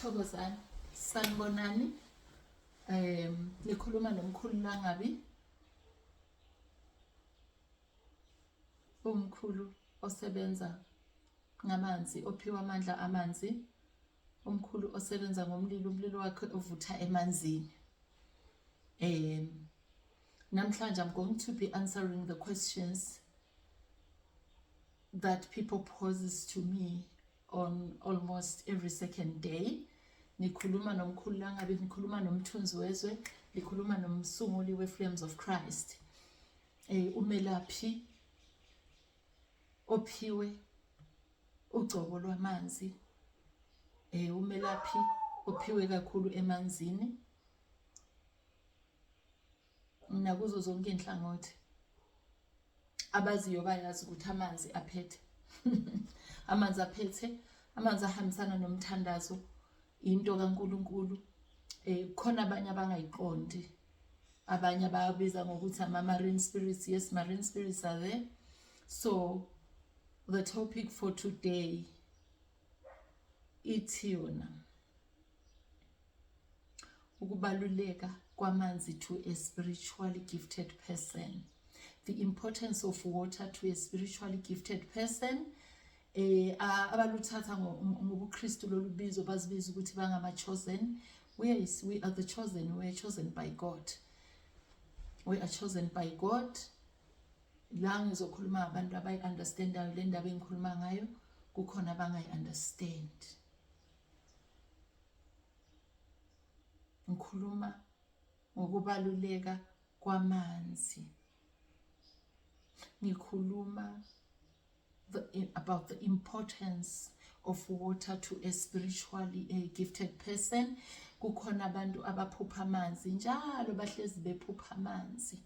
Thokozani, sanibonani. Um, nikhuluma nomkhulu Langabi. Umkhulu osebenza ngamanzi, ophiwa amandla amanzi. Umkhulu osebenza ngomlilo, umlilo wakhe ovutha emanzini. Um, namhlanje I'm going to be answering the questions that people poses to me on almost every second day nikhuluma nomkhulu langabi nikhuluma nomthunzi wezwe nikhuluma nomsunguli we-flames of christ um umelaphi ophiwe ugcobo lwamanzi um umelaphi ophiwe kakhulu emanzini nakuzo zonke inhlangothi abaziyo bayazi ukuthi amanzi aphethe amanzi aphethe amanzi ahambisana nomthandazo into kaNkuluNkulu eh khona abanye abangayiqondi abanye ababiza ngokuthi ama marine spirits yes marine spirits are there so the topic for today ithi yona ukubaluleka kwamanzi to a spiritually gifted person the importance of water to a spiritually gifted person eh abaluthatha ngobuKristu lolubizo bazibiza ukuthi bangama chosen we are, we are the chosen we are chosen by God we are chosen by God la ngizokhuluma abantu abayi understandayo le ndaba engikhuluma ngayo kukhona abangayi understand ngikhuluma ngokubaluleka kwamanzi ngikhuluma the, about the importance of water to a spiritually a gifted person kukhona abantu abaphupha amanzi njalo bahlezi bephupha amanzi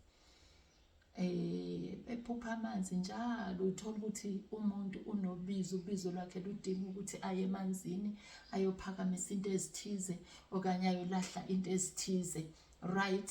eh bephupha amanzi njalo uthola ukuthi umuntu unobizo ubizo lwakhe ludinga ukuthi aye emanzini ayophakamisa into ezithize okanye ayolahla into ezithize right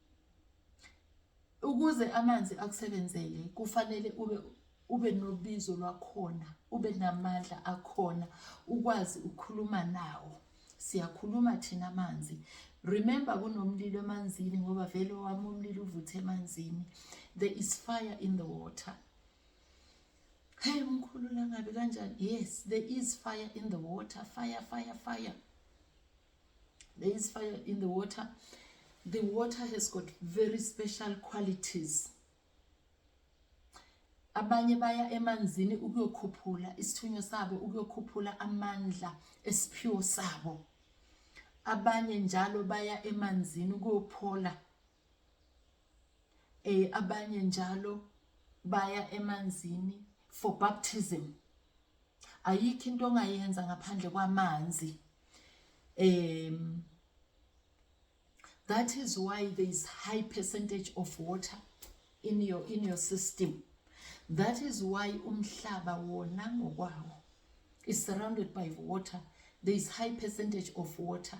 Ukuze amanzi akusebenzele kufanele ube ube nobizo lwakhona, ube namandla akhona, ukwazi ukukhuluma nawo. Siyakhuluma thina amanzi. Remember kunomlilo emanzini ngoba vele owami umlilo uvuthe emanzini. There is fire in the water. Hey mkhulu langabi kanjani? Yes, there is fire in the water. Fire, fire, fire. there is fire in the water the water has got very special qualities abanye baya emanzini ukuyokhuphula isithunywa sabo ukuyokhuphula amandla esiphiwo sabo abanye njalo baya emanzini ukuyophola eh abanye njalo baya emanzini for baptism ayikho into ongayenza ngaphandle kwamanzi um that is why there is high percentage of water in your in your system that is why umhlaba wona ngokwawo is surrounded by water there is high percentage of water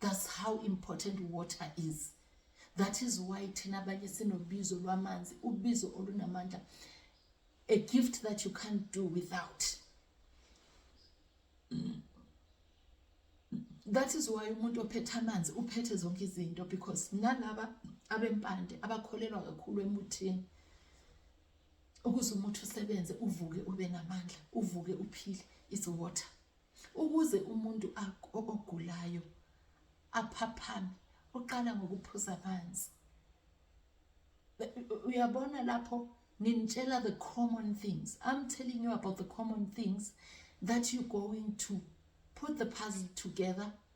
That's how important water is. That is why thina abanye sinobizo lwamanzi, ubizo olunamandla. A gift that you can't do without. That is why umuntu ophethe amanzi uphethe zonke izinto because nalaba abempande abakholelwa kakhulu emuthini ukuze umuthi usebenze uvuke ube namandla uvuke uphile is water Ukuze umuntu ogulayo aphaphame uqala ngokuphuza amanzi. Uyabona lapho nginitshela the common things. I'm telling you about the common things that you're going to put the puzzle together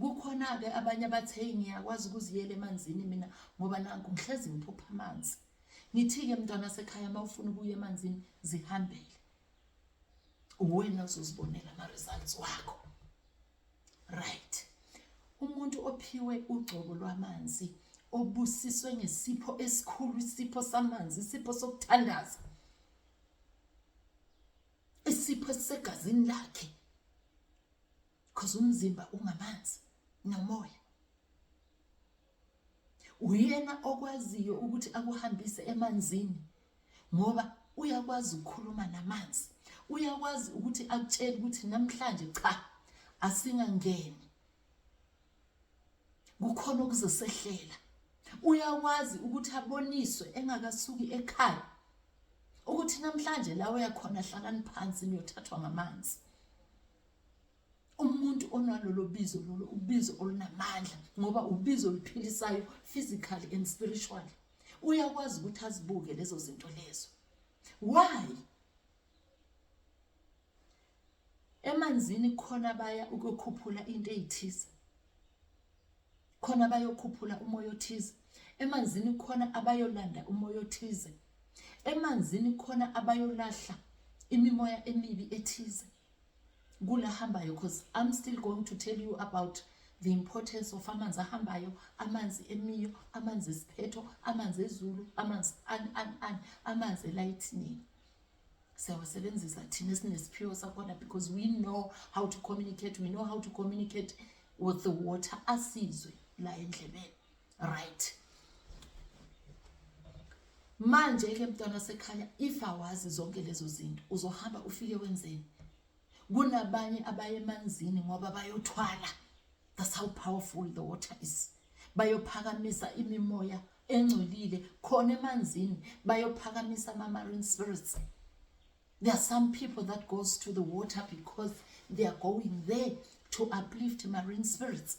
Kukhona-ke abanye abathi heyi ngiyakwazi ukuziyela emanzini mina ngoba nanku ngihlezi ngiphupha amanzi. Ngithi-ke mntwana sekhaya uma ufuna ukuya emanzini zihambele. Uwena uzozibonela ama-results wakho. Right. Umuntu ophiwe ugcobo lwamanzi obusiswe ngesipho esikhulu isipho samanzi isipho sokuthandaza isipho esisegazini lakhe because umzimba ungamanzi nomoya uyena okwaziyo ukuthi akuhambise emanzini ngoba uyakwazi ukukhuluma namanzi uyakwazi ukuthi akutshele ukuthi namhlanje cha asingangeni kukhona okuzosehlela uyakwazi ukuthi aboniswe engakasuki ekhaya ukuthi namhlanje la uyakhona hlalani phansi niyothathwa ngamanzi umuntu onalolo bizo lolo ubizo olunamandla ngoba ubizo oluphilisayo physically and spiritually uyakwazi ukuthi azibuke lezo zinto lezo why emanzini khona baya ukukhuphula into ezithize khona bayokhuphula umoya othize emanzini khona abayolanda umoya othize emanzini khona abayolahla imimoya emibi ethize kula hambayo because I'm still going to tell you about the importance of amanzi ahambayo amanzi emiyo amanzi esiphetho amanzi ezulu amanzi an, an, an, amanzi elayithinini siyawasebenzisa thina sinesiphiwo sakhona because we know how to communicate we know how to communicate with the water asizwe la endlebeni right manje ke mntwana sekhaya if awazi zonke lezo zinto uzohamba ufike wenzeni kunabanye abaye emanzini ngoba bayothwala that's how powerful the water is bayophakamisa imimoya engcolile khona emanzini bayophakamisa ama marine spirits there are some people that goes to the water because they are going there to uplift marine spirits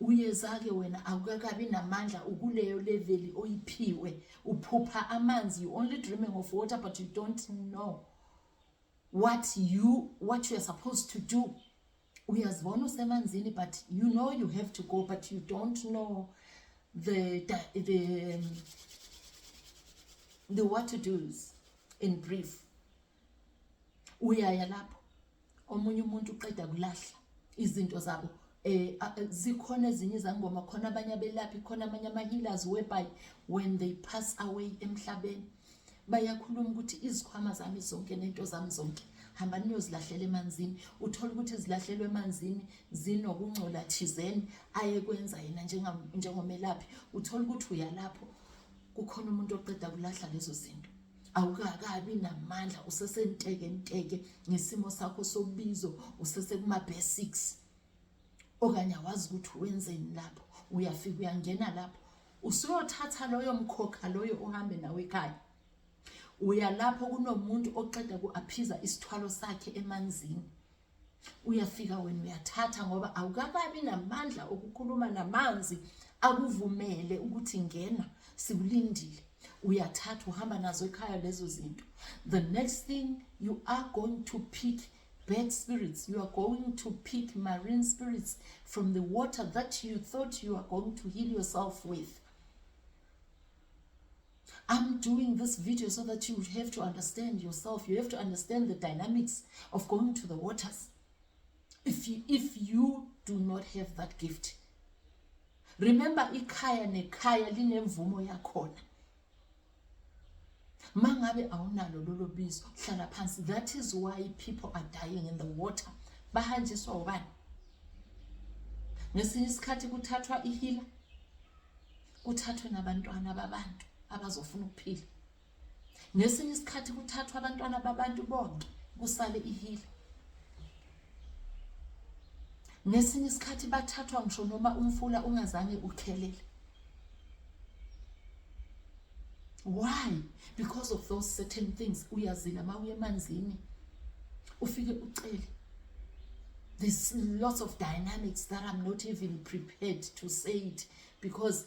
uyezake wena awukakabi namandla ukuleyo leveli oyiphiwe uphupha amanzi you only dreaming of water but you don't know what you what you are supposed to do uyazibona usemanzini but you know you have to go but you don't know the the the, um, the what to do's in brief uyaya lapho omunye umuntu uqeda kulahla izinto zabo eh zikhona ezinye izangoma khona abanye abelaphi khona amanye ama-healers whereby when they pass away emhlabeni bayakhuluma ukuthi izikhwama zami zonke nento zami zonke hamba niyozilahlela emanzini uthole ukuthi zilahlelwe emanzini zinokungcola thizeni ayekwenza yena njengomelaphi uthole ukuthi uyalapho kukhona umuntu oqeda kulahla lezo zinto awukakabi namandla usesentekenteke ngesimo sakho sobizo usesekuma-basics okanye awazi ukuthi wenzeni lapho uyafika uyangena lapho usuyothatha loyo mkhokha loyo uhambe nawe ekhaya uya lapho kunomuntu oqeda ku-aphiza isithwalo sakhe emanzini uyafika wena uyathatha ngoba awukakabi namandla okukhuluma namanzi akuvumele ukuthi ngena sikulindile uyathatha uhamba nazo ekhaya lezo zinto the next thing you are going to pick bad spirits you are going to pick marine spirits from the water that you thought you are going to heal yourself with I'm doing this video so that you have to understand yourself. You have to understand the dynamics of going to the waters. If you, if you do not have that gift. Remember ikhaya nekhaya linemvumo yakhona. Mangabe awunalo lolo bizo hlala phansi. That is why people are dying in the water. Bahanjiswa ubani? Ngesinye isikhathi kuthathwa ihila kuthathwe nabantwana babantu abazofuna ukuphila ngesinye isikhathi kuthathwa abantwana babantu bonke kusale ihile ngesinye isikhathi bathathwa ngisho noma umfula ungazange ukhelele why because of those certain things uyazila uma uye emanzini ufike ucele there's lots of dynamics that I'm not even prepared to say it because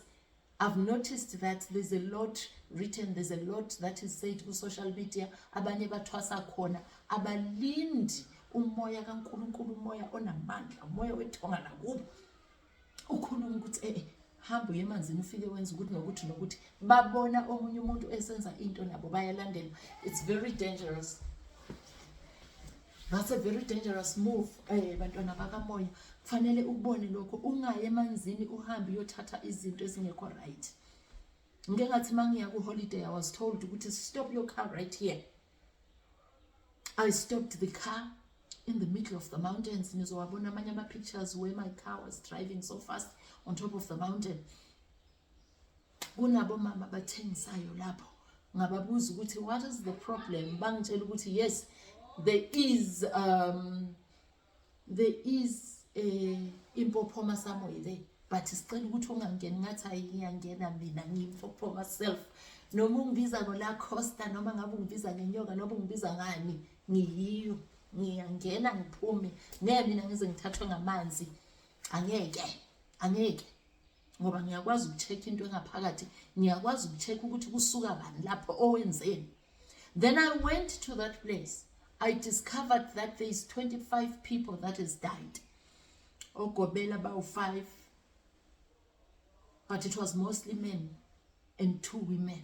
I've noticed that there's a lot written, there's a lot that is said ku social media, abanye bathwasa khona, abalindi umoya kaNkulunkulu, umoya onamandla, umoya wethonga nakubo. Ukhuluma ukuthi eh hamba uye emanzini ufike wenza ukuthi nokuthi nokuthi babona omunye umuntu esenza into nabo bayalandela. It's very dangerous. That's a very dangerous move eh bantwana bakamoya kufanele ukubone lokho ungaye emanzini uhambe uyothatha izinto ezingekho right ngike ngathi mangiya ku holiday i was told ukuthi stop your car right here i stopped the car in the middle of the mountains nizowabona amanye ama pictures where my car was driving so fast on top of the mountain kunabo mama abathengisayo lapho ngababuza ukuthi what is the problem bangitshela ukuthi yes there is um there is a impophoma somewhere there but sicela ukuthi ungangeni ngathi hayi ngiyangena mina ngiyimpophoma self noma ungibiza ngola costa noma ngabe ungibiza ngenyoka noma ungibiza ngani ngiyiyo ngiyangena ngiphume ngeke mina ngize ngithathwe ngamanzi angeke angeke ngoba ngiyakwazi ukucheck into engaphakathi ngiyakwazi ukucheck ukuthi kusuka bani lapho owenzeni then i went to that place i discovered that there is 25 people that has died ogobela bawu-5 but it was mostly men and two women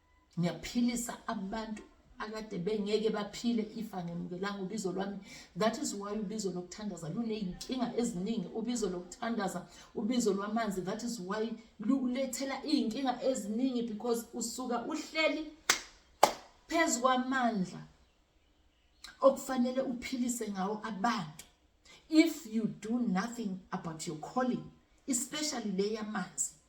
ngiyaphilisa abantu akade bengeke baphile ifa ngemukelanga ubizo lwami that is why ubizo lokuthandaza luneyinkinga eziningi ubizo lokuthandaza ubizo lwamanzi that is why lukulethela iyinkinga eziningi because usuka uhleli phezu kwamandla okufanele uphilise ngawo abantu if you do nothing about your calling especially le yamanzi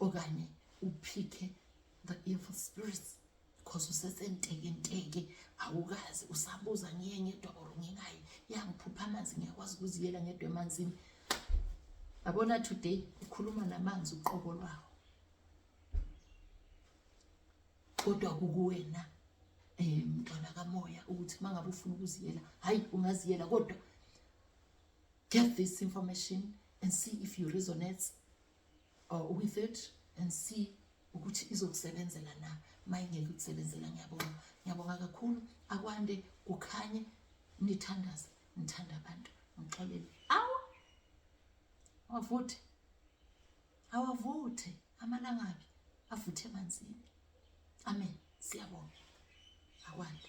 okanye uphikhe the evil spirits because usesentekenteke awukazi usabuza ngiye ngedwa or ngikayi yangiphupha amanzi ngiyakwazi ukuziyela ngedwa emanzini yabona today ukhuluma namanzi uqobo lwawo kodwa kukuwena um mntwana kamoya ukuthi uma ngabe ufuna ukuziyela hhayi ungaziyela kodwa get this information and see if you resonates or uh, with it and see ukuthi izokusebenzela na mayingeke ukusebenzela ngiyabonga ngiyabonga kakhulu akwande kukhanye nithandaze ngithanda abantu ngixolele awu awavuthe awavuthe amalangabi avuthe emanzini amen siyabonga akwande